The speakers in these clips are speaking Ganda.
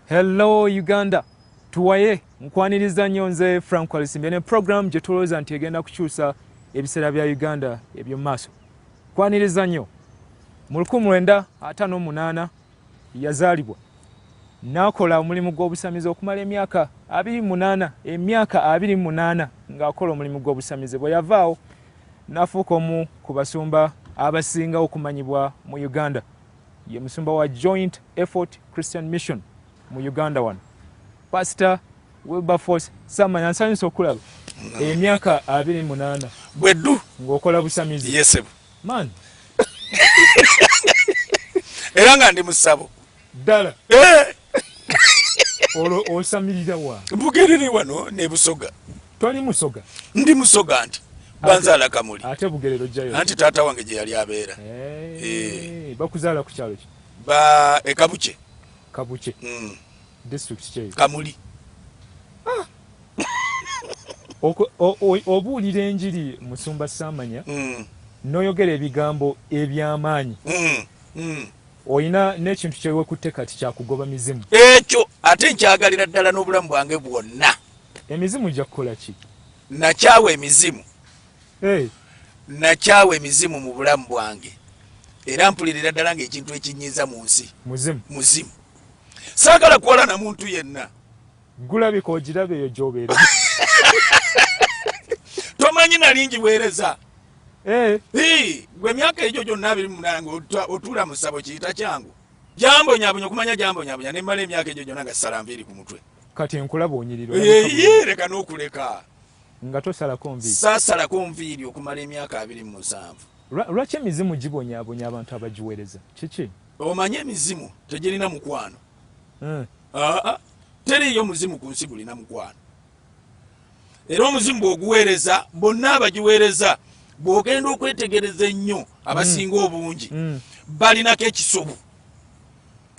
hello uganda tuwaye nkwaniriza nnyo nze frank alisimbye ne program gye tulowooza nti egenda kukyusa ebiseera bya uganda eby'omumaaso kwaniriza nnyo mu 1958 Yazaalibwa n'akola omulimu gw'obusamize okumala emyaka abiri mu munaana emyaka abiri mu munaana ng'akola omulimu gw'obusamize bwe yavaawo n'afuuka omu ku basumba abasinga okumanyibwa mu Uganda. Ye musumba wa Joint Effort Christian Mission mu Uganda wano. Pasita Wilberforce Samanya nsanyusa okulaba emyaka abiri munaana bweddu ng'okola busamizi. Yes, man era nga ndi musabo ddala eh. olwo osamirira wa bugerere wano ne busoga twali musoga ndi musoga nti banzaala kamuli ate bugerero jayo anti taata wange gye yali abeera eh, eh. bakuzaala ku kyalo ki ba ekabuche kabuche mm. district kye kamuli ah. obuulira enjiri musumba saamanya mm. n'oyogera ebigambo eby'amaanyi mm. mm. olina n'ekintu kyewekutte kati kyakugoba mizimu ekyo ate nkyagalira ddala n'obulamu bwange bwonna emizimu gya kukola ki nakyawa emizimu eh. nakyawa emizimu mu bulamu bwange era mpulirira ddala ng'ekintu ekinyiiza mu nsi muzimu sagala kuwala na muntu yenna gulabika ogiraba eyo gyobeera tomanyi nalingi weereza eh. gwe emyaka egyo gyonna abiri munange otuula mu ssabo kiyita kyangu jambonyabonya okumanya jambonyabonya nemmala emyaka egyo gyonna nga sisala nviiri ku mutwe kati enkulaba onyirira leka n'okuleka nga tosalako nviiri sasalako nviiri okumala emyaka abiri mu musanvu lwaki emizimu gibonyabonya abantu abagiweereza kiki Omanyi emizimu tegirina mukwano. Hmm. Ah, ah. Teriiyo muzimu ku nsi gulina mukwano. Era omuzimu bw'oguweereza bonna abagiweereza bw'ogenda okwetegereza ennyo abasinga hmm. obungi hmm. balinako ekisobu.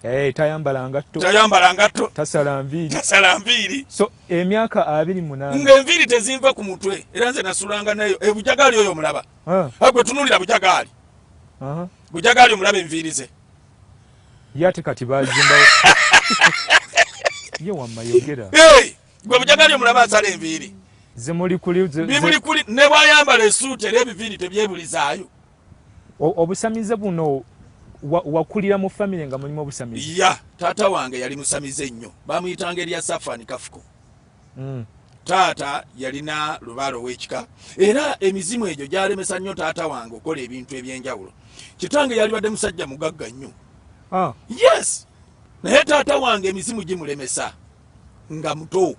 Eh, tayambala ngatto tayambala ngatto tasala nviiri tasala nviiri so emyaka abiri munaana ng'enviiri tezinva ku mutwe era nze nasulanga nayo ebujagaali eh, oyo omulaba agwe tunulira bujagaali Bujagali omulaba enviiri ze. Ye ate kati baazimbawo. Ye wamma yogera. Hey! Gwe bujagali omulaba asala enviiri. Zimuli kuli. Bimuli kuli. Ne bwayambala esuuti era ebiviiri tebyebulizaayo. Obusamize buno wakulira mu famire nga mulimu obusamize? Ya, taata wange yali musamize nnyo. Bamuyitanga erya Safani Kafuko. Mm. Taata yalina lubaale ow'ekika era emizimu egyo gyalemesa nnyo taata wange okukola ebintu eby'enjawulo. Kitange yalibadde musajja mugagga nnyo. Ah. Yes. Naye taata wange emizimu gimulemesa nga muto.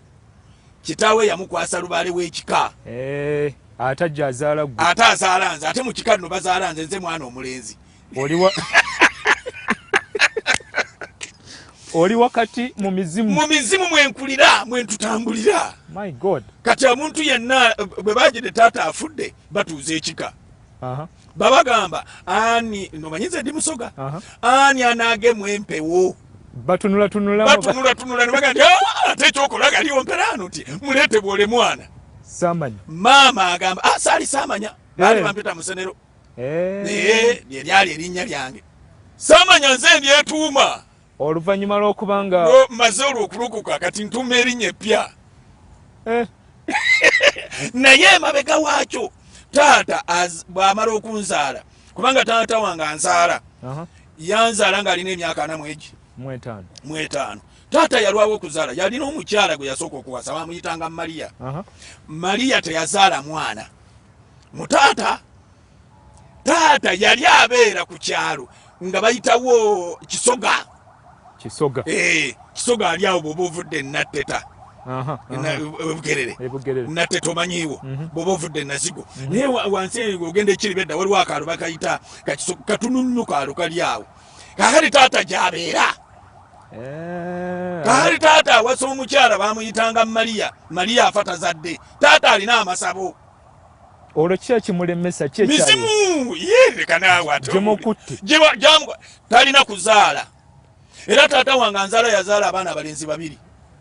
Kitaawe yamukwasa lubaale w'ekika. Eh. Ate ajja azaala gwe. Ate azaala nze ate mu kika nno bazaala nze nze mwana omulenzi. oli wakati mu mizimu mu mizimu mwenkulira mwentutambulira my god kati omuntu yenna bwe bagide taata afudde batuuza ekika babagamba ani nomanyiza ndi musoga ani anagemu empewo batunulatunulabatunulatunula nebaga ah, ate ekyokola galiwo mperaano ti muleete bwole mwana maama agamba ah, saali saamanya baali eh. bampita musenero eh. naye lyeryali erinnya lyange samanya nze ndyetuuma oluvanyuma lwokuba nga maze olwo okulokoka kati ntuuma erinnya eppya eh. naye emabega waakyo taata bwamala okunzaala kubanga taata wange anzaala yanzaala ng'alina emyaka ana mwegi mwetaano taata yalwawo okuzaala yalina omukyala gwe yasooka okuwasa bamuyitanga mariya mariya teyazaala mwana mu taata taata yali abeera ku kyalo nga bayitawo kisoga kisoga eh, kisoga ali awo bwoba ovudde enatteta ebugerere natteta omanyiiwo mhm. bwoba ovudde enazigo mhm. naye wansi ogenda ekiribedda waliwo akaalo bakayita katununnu kaalo kali awo kakali taata gyabeera eh. kakali taata awasa omukyala bamuyitanga mariya mariya afa tazadde Taata alina amasabo. Olwo kiki ekimulemesa? Kiki ekyali? Mizimu ye leka naawe ate. Gimukutte. Giba gyamu talina kuzaala. Era taata wange anzaala yazaala abaana abalenzi babiri.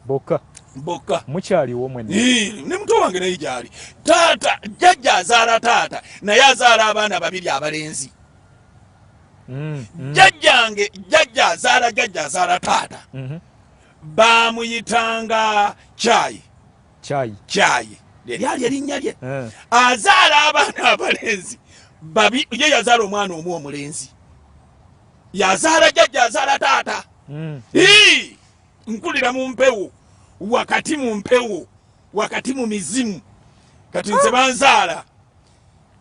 Bokka. Bokka. Mukyaliwo mwenna. Ii ne muto wange naye gyali. Taata jjajja azaala taata naye azaala abaana babiri abalenzi. Mm, mm. Jjajjange jjajja azaala jjajja azaala taata. Mm -hmm. Baamuyitanga kyayi. kyayi kyayi lyali erinnya lye eh. azaala abaana abalenzi babi ye yazaala omwana omu omulenzi yazaala jajja azaala taata hmm. nkulira mu mpewo wakati mu mpewo wakati mu mizimu kati nze ah. banzaala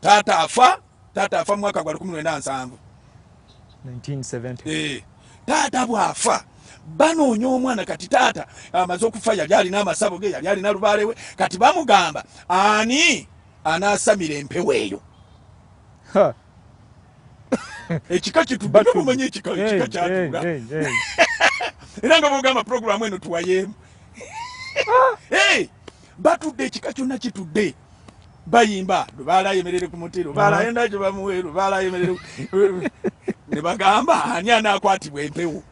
taata afa taata afa mwaka gwa lukumi lwenda nsanvu eh, taata bwafa banoonya omwana kati taata amaze okufa yali alina amasabo ge yali alina lubaale we kati bamugamba ani anaasamira empewo eyo ekika kitubatumanya ekika kyatuula era nga bogamba puroguramu eno tuwayeemu ah! batudde ekika kyonna kitudde bayimba lubaala ayemerere ku muti lubaala ah. yenda gye bamuwe lubaala ayemerere ne bagamba ani anaakwatibwa empewo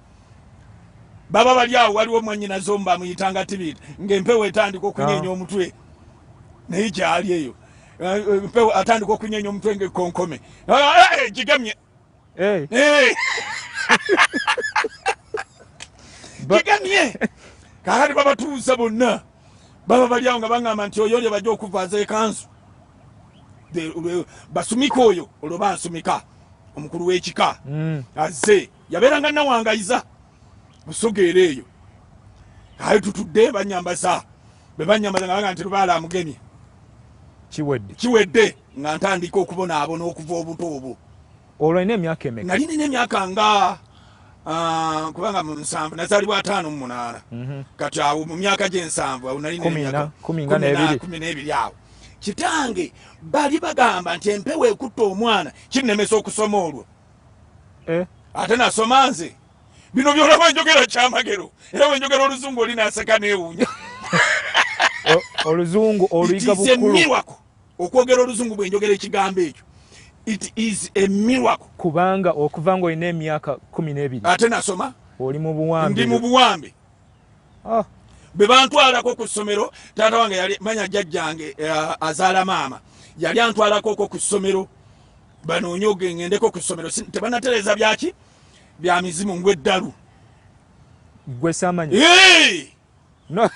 baba bali awo waliwo mwanyinaze omu bamuyitanga tibiri ng'empewo etandika okunyenya ah. omutwe naye gyali eyo eh, eh, empewo atandika okunyenya omutwe ng'ekkonkome ah, eh, gigamye Hey. Hey. kigamye kakati babatuuza bonna baba baliawo nga baŋamba nti oyo lye bajja okuvaaza ekanzu basumika oyo olwo bansumika omukulu w'ekika mm. azze yabeeranga nawangayiza busogeera eyo ayo tutudde banyambaza bwe banyambaza nga baga nti lubaala amugemye kiwedde Nga ntandika okubonaabona okuva obuto obwo. Olwo nina emyaka emeka? Nali nina emyaka nga ah, kubanga mu nsanvu nazaalibwa ataano mu munaana mhm. kati awo mu myaka gy'ensanvu awo nali kumi n'ebiri awo kitange bali bagamba nti empewo ekutta omwana kinnemesa okusoma olwo eh? ate nasoma nze bino byona bwenjogera kyamagero era bwenjogera oluzungu oli naseka newunya oluzungu oluyiga bukulu okwogera oluzungu bwenjogera ekigambo ekyo it is a miracle kubanga okuva nga olina emyaka kumi n'ebiri ate nasoma oli mu buwambe ndi mu buwambe ah. bwe bantwalako ku ssomero taata wange yali manya jjajjange uh, azaala maama yali antwalako ko ku ssomero banoonyoge ngendeko ku ssomero tebanatereeza byaki bya mizimu ngweddalu gwe samanyi hey! No.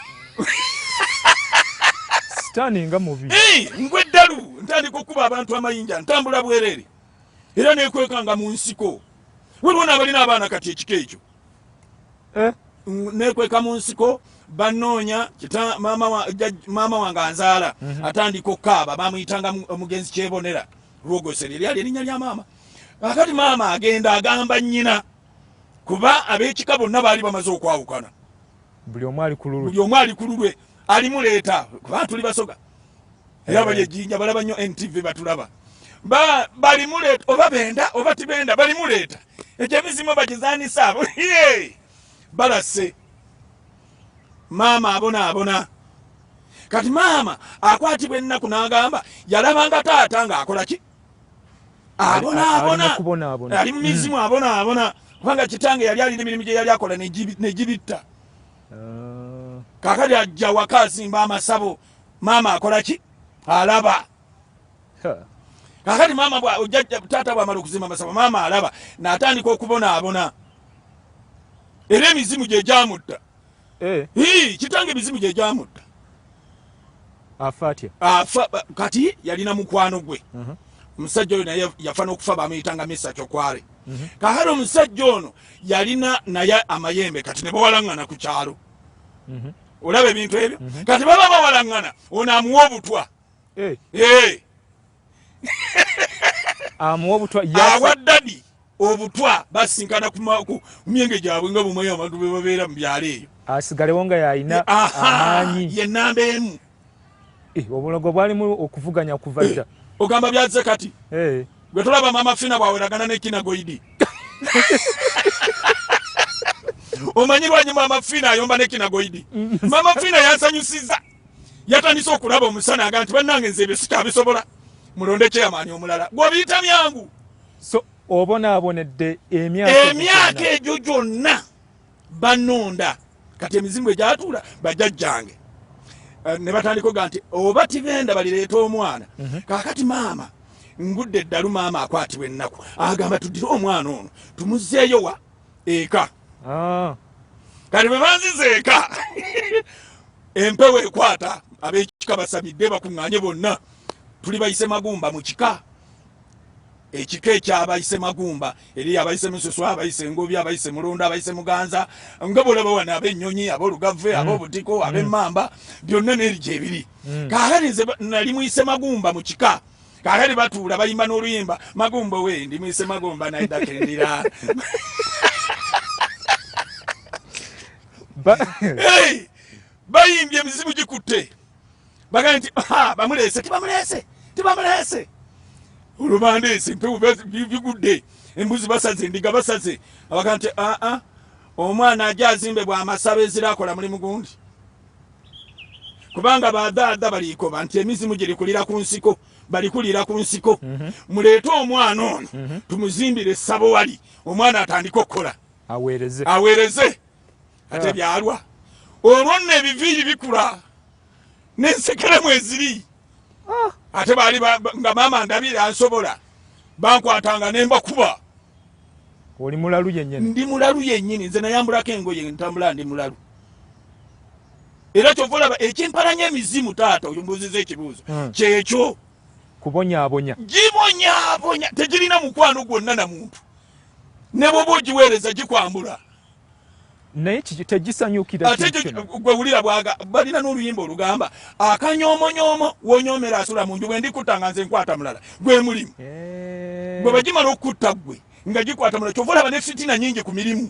Sitani nga mubi. Hey, ngwe dalu ntandika okuba abantu amayinja ntambula bwerere. Era nekwekanga mu nsiko. Waliwo n'abalina abaana kati ekika ekyo. Eh? Nekweka mu nsiko banoonya kita maama wa, jaj, maama wange anzaala mm -hmm. atandika okukaaba bamuyitanga omugenzi kyebonera lwogosere lyali erinnya lya maama akati maama agenda agamba nnyina kuba ab'ekika bonna baali bamaze okwawukana buli omu ali ku lulwe buli omu ali ku lulwe alimuleeta kuba tuli basoga era bali ejjinja balaba nnyo ntv batulaba balimuleeta oba benda oba tibenda balimuleeta ekyo emizimu bagizanisa abo balase maama abona abona kati maama akwatibwa ennaku n'agamba yalabanga taata ng'akola ki abonaabona ali mu mizimu hmm. abonaabona kubanga kitange yali alina emirimu gye yali akola negibitta ah. kakati ajja waka azimba amasabo maama akola ki alaba kakati maama taata bwamala okuzimba amasabo maama alaba natandika okubonaabona era emizimu gye gyamutta Eh. Hii, kitange mizimu gye gyamutta afa atya afa kati yalina mukwano gwe uh-huh. omusajja oyo naye yafa n'okufa bamuyitanga misa kyokwale uh-huh. kakati omusajja ono yalina naye amayembe kati ne bawalaŋŋana ku kyalo uh-huh. olaba ebintu ebyo kati baba bawalaŋŋana ono amuwa obutwa eh. Eh. amuwa obutwa awa dadi obutwa basinkana ku myenge gyabwe nga bumwe abantu be babeera mu byalo eyo asigalewo nga yalina amaanyi ye namba emu eh, obulogo bwalimu okuvuganya kuva dda eh, ogamba byazze kati eh. gwe tulaba mama fina bwaweragana nekina goidi omanyi lwanyuma mama fina ayomba nekina goidi mm. mama fina yansanyusiza yatandise okulaba omusana aga nti bannange nze ebyo sikyabisobola mulonde kyeyamaanyi omulala gwobiyita byangu so obonaabonedde emyaka egyo gyonna banonda kati emizimu egyatuula bajajjange eh, ne batandika oga nti oba tibenda balireeta omwana mhm. kakati maama ngudde eddalu maama akwatibwa ennaku agamba tuddire omwana ono tumuzeeyowa eka ah. kati bwe banziza eka empewo ekwata ab'ekika basabidde bakuŋŋaanye bonna tuli bayise magumba mu kika ekika ekyabayise magumba eri abayise mususu abayise ngobi abayise mulonda abayise muganza nga bolaba wano abenyonyi abolugave mm. abobutiko mm. abemamba byonna neri gyebiri mm. kakati nze nali muyise magumba mu kika kakati batuula bayimba n'oluyimba magumbo we ndi mwise magomba naye dakendira bayimbye emizimu gikutte bagambye nti bamuleese tibamuleese tibamuleese olubanda ensi mpewo bigudde embuzi basaze endiga basaze abaga nti aa omwana aja azimbe bwamasabe ezira akola mulimu gundi kubanga badhaadha balikoba nti emizimu girikulira ku nsiko balikulira ku nsiko mhm. muleete omwana ono mhm. tumuzimbire essabo wali omwana atandike okukola aweereze ate ah. byalwa olwo nno ebiviiri bikula nensekere mweziri ah. ate baali nga maama ndabire ansobola bankwatanga nembakuba oli mulalu yenyini ndi mulalu yenyini nze nayambulako engoye ntambula ndi mulalu era kyova olaba ekimpalanya emizimu taata oyo mbuziza ekibuuzo hmm. kyekyo kubonyabonya gibonyabonya tegirina mukwano gwonna na muntu ne bwoba ogiweereza gikwambula naye tegisanyukira ate gwe wulira bwaga balina n'oluyimba olugamba akanyoomonyoomo wonyoomera asula mu nju bwe ndikutta nga nze nkwata mulala gwe mulimu eh. gwe bagimala okukutta gwe nga gikwata mulala kyova olaba ne fitina nyingi ku mirimu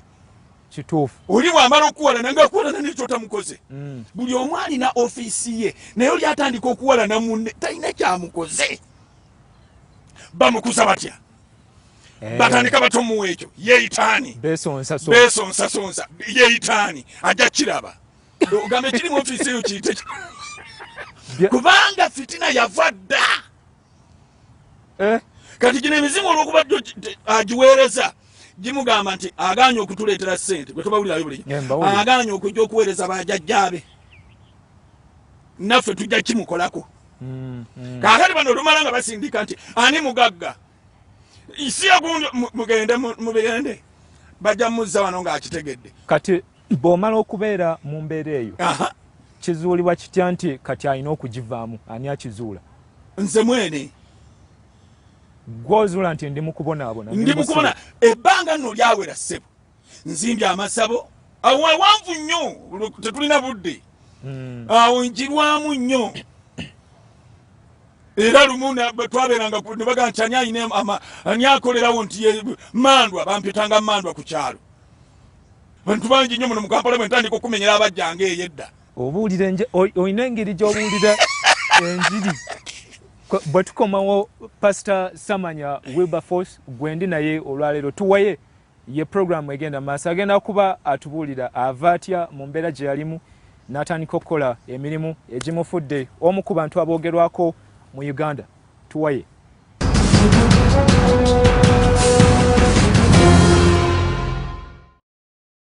kituufu oli bwamala okuwalana nga akuwalana nekyotamukoze mm. buli omu alina ofiisi ye naye oli atandika okuwalana munne talina kyamukoze bamukuza batya Eh. batandika batomuwa ekyo yeitaani besonsasonsa yeitaani ajja kiraba ogamba ekiri mu ofiisi eyo kiyite kubanga fitina yava dda eh? kati gino emizimu olwokuba agiweereza gimugamba nti aganye okutuleetera sente bwetubawulirayo buli aganye okujja okuweereza bajajjaabe naffe tujja kimukolako mm, mm. kakati bano olumala nga basindika nti ani mugagga isi yagundi mugende mubigende bajja muzza wano ngaakitegedde kati bwomala okubeera mu mbeera eyo kizuulibwa kitya nti kati alina okugivaamu ani akizuula nze mwene gwozuula nti ndi mukubonaabona ndi mukubona ebbanga nno lyawera ssebo nzimbye amasabo awo awanvu nnyo tetulina budde hmm. awo njirwamu nnyo era lumu twaberanga nebaga nti ani ayina ani akolerawo nti mandwa bampitanga mandwa ku kyalo bantu bangi nnyo muno mukampala bwe ntandika okumenyera abajjanga eyo edda obuulira olina engeri gyobuulira enjiri bwe tukomawo pasita samanya wilberforce gwendi naye olwaleero tuwaye Ye pulogulaamu egenda mu maaso. Agenda kuba atubuulira ava atya mu mbeera gye yalimu n'atandika okukola emirimu egimufudde omu ku bantu aboogerwako mu Uganda. Tuwaye.